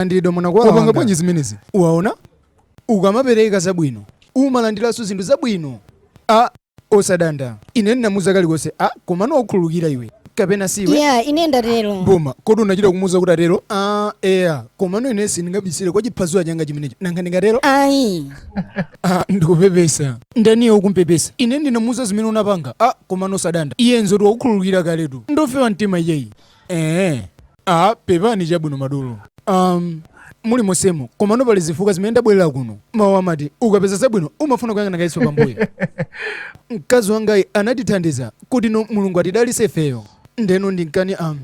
Munalandiridwa mwana kwa wanga. Wapanga bwanji zimenezi? Waona? Ukamapereka zabwino, umalandiranso zinthu zabwino. A osadanda. Ine ndinamuuza kalikonse, a komano wakukhululukira iwe. Kapena siwe? Iya, ine ndatero. Boma, kodi unachita kumuuza kuti atero? Ah, eya. Komano ine sindingabisire kwa chiphazuwa changa chimenecho. Nanga ndingatero? Ayi. Ah, ndikupepesa. Ndi iyeyo ukumpepesa. Ine ndinamuuza zimene unapanga. Ah, komano osadanda. Iye ndi oti wakukhululukira kaletu. Ndofewa mtima iyeyi. Eh. Ah, pepani chabwino madolo. Um, muli mosemo komano pali zifukwa zimene ndabwerera kuno mawu amati ukapeza zabwino umafuna kuyang'ana kayenso pambuyo mkazi wangayi anatithandiza kuti no mulungu atidalise ifeyo ndeno ndi nkhani am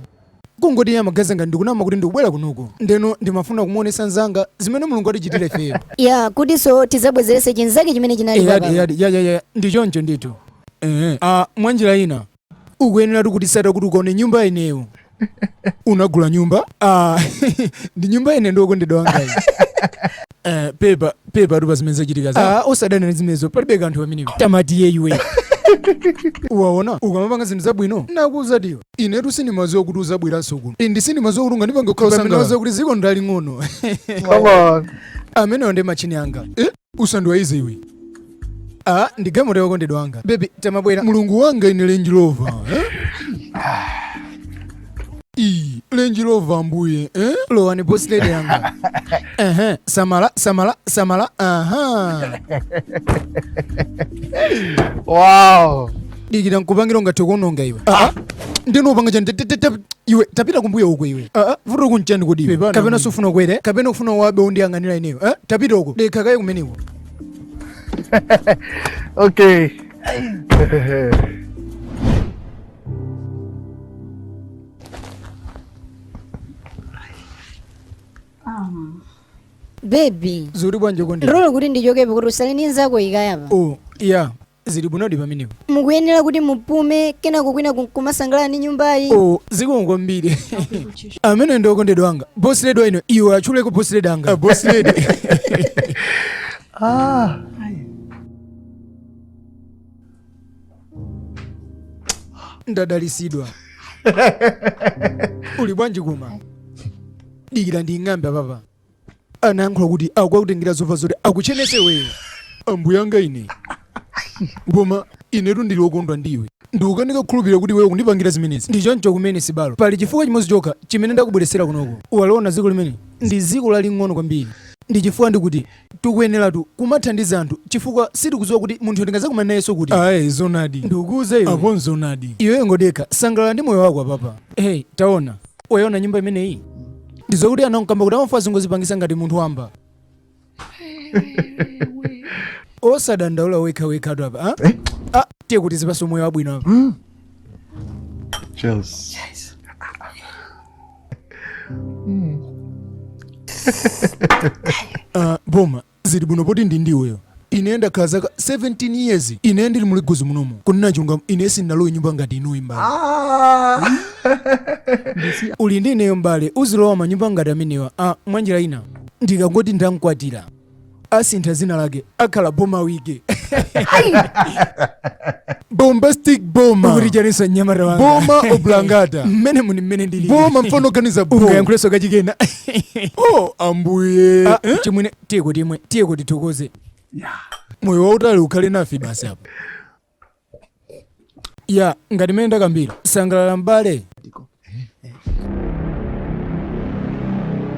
kungoti iye amaganiza ngati ndikunama kuti ndikubwera kunoko ndeno ndimafuna kumuonesa mnzanga zimene mulungu atichitira ifeyo ya kutinso tizabwezerese chinzake chimene chinali eyadi eyadi yayaya ndi choncho ndithu ehe ah, mwanjira ina ukuyenera kutitsata kuti ukaone nyumba ineyo unagula nyumba ah, ndi nyumba ine ndi okondedwa wangayi Eh, pepa pepatu pa zimene zachitika za ah, osadanda ndi zimenezo palibe kanthu pamenepo tamatiyeni iwe waona ukamapanga zinthu zabwino nakuuza tiyo inetu sindimaziwa kuti uzabweranso kuno ndi sindimaziwa kuti ungandipange kukhala Pamenepa sanga. Waona kuti ziko ndaling'ono Come on. amenewa ndi machini anga eh? usandiwaize iwe ah, ndi gamoto yokondedwa wanga bebi tamabwera mulungu wanga ine lenji lova eh? Ii, lenji lova mbuye eh? lowani bosi lede yanga Ehe, samala samala samala aha wow dikira nkupangire ungathe kuononga iwe ah. ah. nde ukupanga chani iwe tapita kumbuyo uko iwe ah, ah. vutotu nchani kodi iwe kapena sufuna ukwere kapena ukufuna uwabe undiyang'anira ineyo eh? tapita uko dikha kaye kumeneko okay um. bebi zili bwanji kodi ndilole kuti ndichokepo kuti usale ndi nzako ikayapa oh yeah Zili bwinodi pamenepo. Mukuyenera kuti mupume kenako kwinaku nkumasangalala ndi nyumbayi. Oh, zikomo kwambiri. Amene ndi okondedwa anga. Boss lady wa ine, iwe atchuleko boss lady anga. Uh, boss lady. Ah. Ndadalisidwa. Uli bwanji koma? Dikira nding'ambe apapa. anayankhula kuti akukakutengera zovala zoti akuchenese iweyo ambuyanga ine koma inetu ndili wokondwa ndiwe ndikukanika kukhulupirira kuti iweyo kundipangira zimenezi ndi choncho kumene sibale pali chifukwa chimodzi chokha chimene ndakubweretsera kunoko uwaliona dziko limeneli ndi dziko laling'ono kwambiri ndi chifukwa ndikuti tikuyeneratu kumathandiza anthu chifukwa sitikudziwa kuti munthuyo tingazakumana nayenso kuti ayi zonadi ndikukuuza iwe apo nzonadi iweyo ngodekha sangalala ndi moyo wako apapa hey taona Wayona nyumba imeneyi? Ndizokuti anankamba kuti amafuna azingozipangisa ngati munthu wamba. Osadandaula wekhawekhatu apa. Eh? Ah, tiye ukazipase moyo wabwino apa. Mm. Cheers. Cheers. Mm. uh, Boma, Ziri bwino poti ndi ndiweyo. Ine ndakhala zaka 17 years ine ndiri mu Legosi munomu. Kunena chilungamo ine sindinalowe nyumba ngati iyi m'bale. Ndisiya. Uli ndi ineyo m'bale uzilowa manyumba ngati amenewa mwanjira ina. Ndikangoti ndamkwatira. Asintha dzina lake akhala boma wike. Bombastic boma. Ukuti chaniso mnyamata wanga. Boma oblangata. Mmene muni mmene ndili. Boma mfana oganiza boma. Ungayankhulenso kachikena. oh ambuye ah, eh? chimwene tiyeko timwe tiyeko tithokoze moyo wautali ukhale nafe basi apo ya ngati mmene ndakambira sangalala mbale